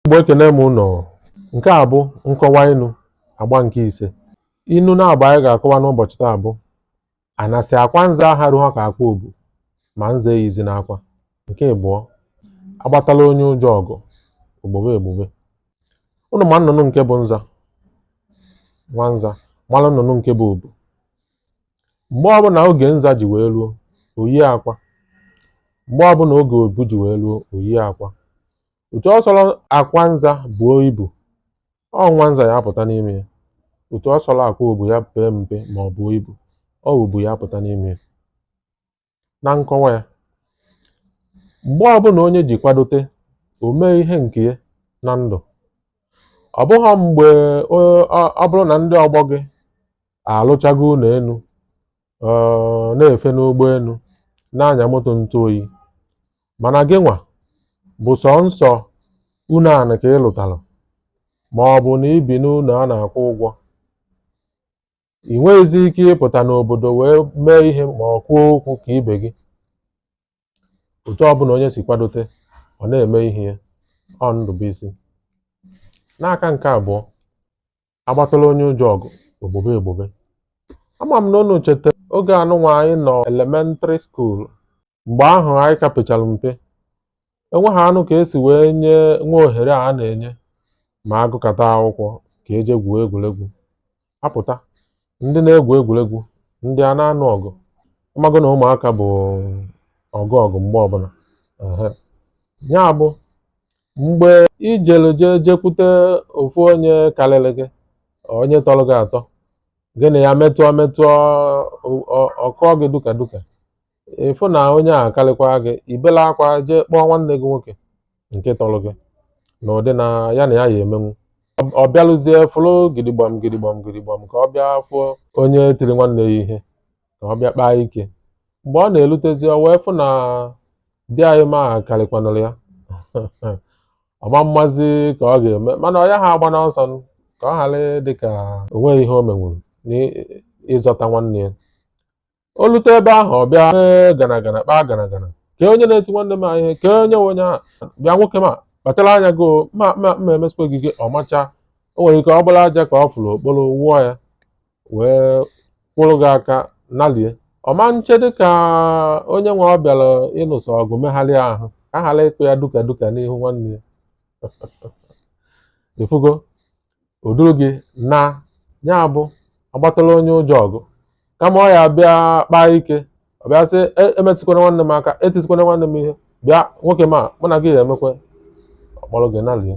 Igbo ekene m ụnụ nke a bụ nkọwa inu agba nke ise inu naabọ anyị ga-akọwa n'ụbọchị taa bụ anasị akwa nza aharụha ka akwa obu ma nza eyizina akwa nke ịbụọ agbatala onye ụjọ ọgụ o gbube egbube ụnụ ma nnụnụ nke bụ nza nwa nza mara nnụnụ nke bụ obu mgbe ọbụla oge nza ji wee ruo o yie akwa mgbe ọbụla oge obu ji wee ruo o yie akwa otu ọ sọrọ akwa nza buo ibu ọ nwa nza ya apụta n'ime ya otu ọ sọrọ akwa obu ya pee mpe ma ọ buo ibu ọ obu ya apụta n'ime ya na nkọwa ya mgbe ọbụla onye ji kwadote o mee ihe nke ya na ndụ ọ bụghị mgbe ọ bụrụ na ndị ọgbọ gị alụchago ụnọ enu ọ na-efe n'ụgbọ enu na-anya moto ntụ oyi mana gị nwa bụ sọnsọ ụnọ anị ka ị lụtara ma ọ bụ na i bi n'ụnọ a na-akwụ ụgwọ ị nweghịzi ike ịpụta n'obodo wee mee ihe ma ọ kwuo okwu ka ibe gị otu ọbụla onye si kwadote ọ na-eme ihe ya ọ ndụ bụ isi n'aka nke abụọ agbatala onye ụjọ ọgụ o gbube egbube ama m na unu cheta oge anụnwa anyị nọ elementary school mgbe ahụ anyị ka pechara mpe enweghị anụ ka e si wee nye nwa ohere a na-enye ma a gụkata akwụkwọ ka e je gwuo egwuregwu a pụta ndị na-egwu egwuregwu ndị a na-anụ ọgụ a mago na ụmụaka bụ ọgụ ọgụ mgbe ọbụla ehe ya bụ mgbe i jere jee jekwute ofu onye karịrị gị onye tọrọ gị atọ gị na ya metụọ metụọ ọ- ọ- ọ kụọ gị duka duka ị fụ na onye a karịkwa gị i bela akwa jee kpọọ nwanne gị nwoke nke tọrọ gị n'ụdị na ya na ya ya emenwu Ọ- ọ bịalụzie fụrụ gidigbam gidigbam gidigbam ka ọ bịa fụọ onye tiri nwanne ya ihe ka ọ bịa kpaa ike mgbe ọ na-erutezi ọ wee fụ na di anyị ma karịkwanụrụ ya ọ ma-amazi ka ọ ga-eme mana ọ yaha agbanụ ọsọ nụ, ka ọ ghara dị ka o nweghị ihe o menwuru n'ịzọta nwanne ya o lute ebe ahụ ọ bịa "Ee, gana gana kpaa gana gana kee onye na-eti nwanne m ihe kee onye nwe onye ahụ bịa nwoke m kpachara anya gị o, ma ma ma emesịkwa gị gị ọ macha o nwere ike ọ bụrụ aja ka ọ fụrụ o kporo wụọ ya wee kwụrụ gị aka nalie ọ ma nche dịka onye nwe ọ bịara ịnụso ọgụ megharịa ahụ ka a ghara ịkụ ya duka duka n'ihu nwanne ya ị fụgo o duru gị naa ya bụ a gbatara onye ụjọ ọgụ kama ọ ya-abịa kpaa ike ọ bịa sị "E- emetụkwana nwanne m aka etisikwana nwanne m ihe bịa nwoke ma mụ na gị ya-emekwa ọ kpọrọ gị nalie